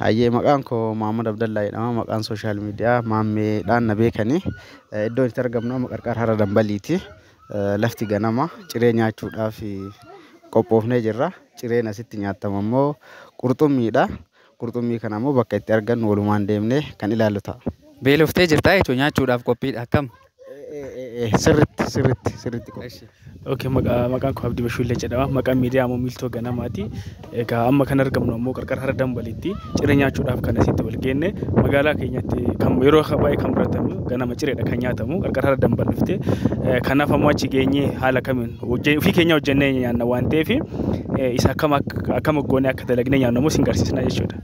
Hayyee maqaan koo Maammed Abdallaa jedhama. Maqaan sooshaal miidiyaa Maammeedhaan na beekani. Iddoon itti argamnu amma qarqara hara Dambaliiti. Lafti ganama ciree nyaachuudhaaf qophoofnee jirra. Cireen asitti nyaatamu ammoo qurxummiidha. Qurxummii kana ammoo bakka itti argannu walumaan deemnee kan ilaallu ta'a. Beeloftee jirtaa jechuudha nyaachuudhaaf qophiidha akkam? Sirritti sirritti sirritti qofa. Eshi. Okay, maqaa maqaan koo Abdii Bashuullee jedhama. Maqaan miidiyaa ammoo Miiltoo Ganamaati. Egaa amma kan argamnu ammoo qarqara hara dambalitti ciree nyaachuudhaaf kan asitti wal geenne magaalaa keenyatti kan yeroo baay'ee kan baratamu ganama cireedha kan nyaatamu qarqara hara dambal dhufte. Kanaaf ammoo achi geenyee haala kamiin hojje- ofii keenya hojjennee nyaanna waan ta'eef isa akkam akka- akkam goonee akka dalagnee nyaannu ammoo isin garsiisna jechuudha.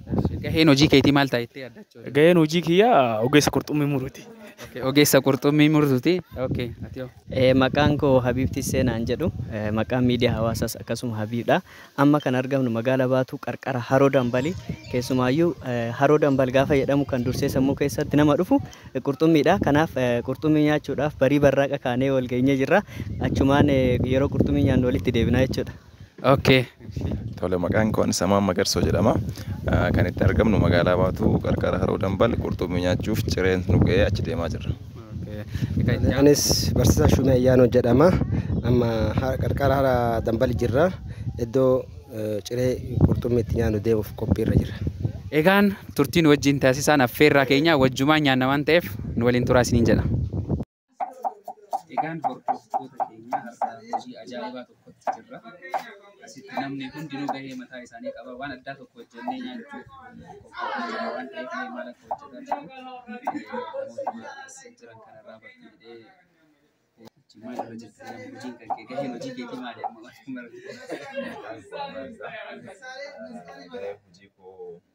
Gaheen hojii keetii maal ta'a jettee yaadda achi waliin? Gaheen hojii kiyyaa ogeessa qurxummii muruuti. Okay, ogeessa qurxummii murtuuti. Okay, ati hoo? Eh, Maqaan koo Habiib Tissee naan jedhu. Eh, Maqaan miidiyaa hawaasaas akkasuma Habiibdha. Amma kan argamnu magaala Baatuu qarqara Haroo Dambali. Keessumaayyuu eh, Haroo Dambal gaafa jedhamu kan dursee sammuu keessatti nama dhufu eh, qurxummiidha. Kanaaf eh, qurxummii nyaachuudhaaf barii barraaqa kaanee wal geenyee jirra. Achumaan eh, yeroo qurxummii nyaannu walitti deebina jechuudha. Okay. Tole maqaan koo Samaan Magarsoo jedhama. Ah, Kan itti argamnu magaalaa Baatuu qarqara Haroo Dambal qurxummii nyaachuuf cireen nu ga'ee achi deemaa jirra. Anis barsiisaa Shumee Ayyaanoo jedhama. Amma ha- qarqara hara dambali jirra. Iddoo eh, ciree qurxummii itti nyaannu deemuuf qophiirra jirra. Egaan turtiin wajjin taasisaan affeerraa keenya wajjumaan nyaanna waan ta'eef nu waliin turaa isiniin jedha. Egaan hordoftoota keenya har'a hojii ajaa'ibaa tokkotti jirra. Asitti namni hundinuu gahee mataa isaanii qaba. Waan addaa tokko hojjennee nyaachuuf qophaa'aa jira waan ta'eef mee maal akka hojjetaa jiru namootuma as jiran kanarraa bartuu jedhee jechuun maal irra jirta jedhama hojiin kan kee gaheen hojii keetii maali amma waan mara Maqaan koo Abbaasaa. Gaheen hojii koo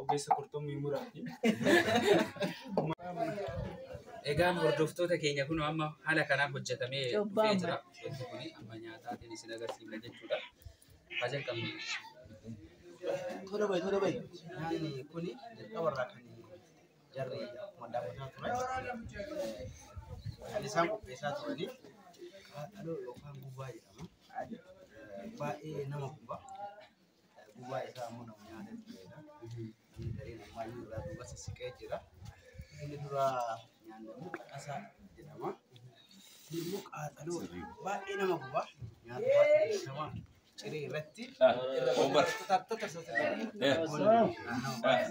Ogeessa qurxummii muraati. Egaan hordoftoota keenya kun amma haala kanaan hojjetamee Cubbaa dhufee jira. Wanti kun amma nyaataatiin isin agarsiifna jechuudha. Haa jalqabnu. Tola bayi, tola bayi. Nyaanni kun jalqaba irraa kan jarri akkuma daawwataa turan kan isaan qopheessaa turanii qaaqaloo yookaan gubaa jedhama. Baay'ee nama guba. Gubaa isaa ammoo nama nyaatee tureedha. Namni gariin ammaayyuu irraa duuba sissiqee jira. Inni dura nyaanne ammoo qaqasaa jedhama. Kun immoo qaaxaloo baay'ee nama guba. Nyaata baay'ee beekamaa ciree irratti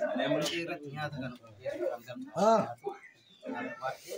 ciree irratti nyaata kana qopheessuudhaan gamtaa nyaatu. Nyaata baay'ee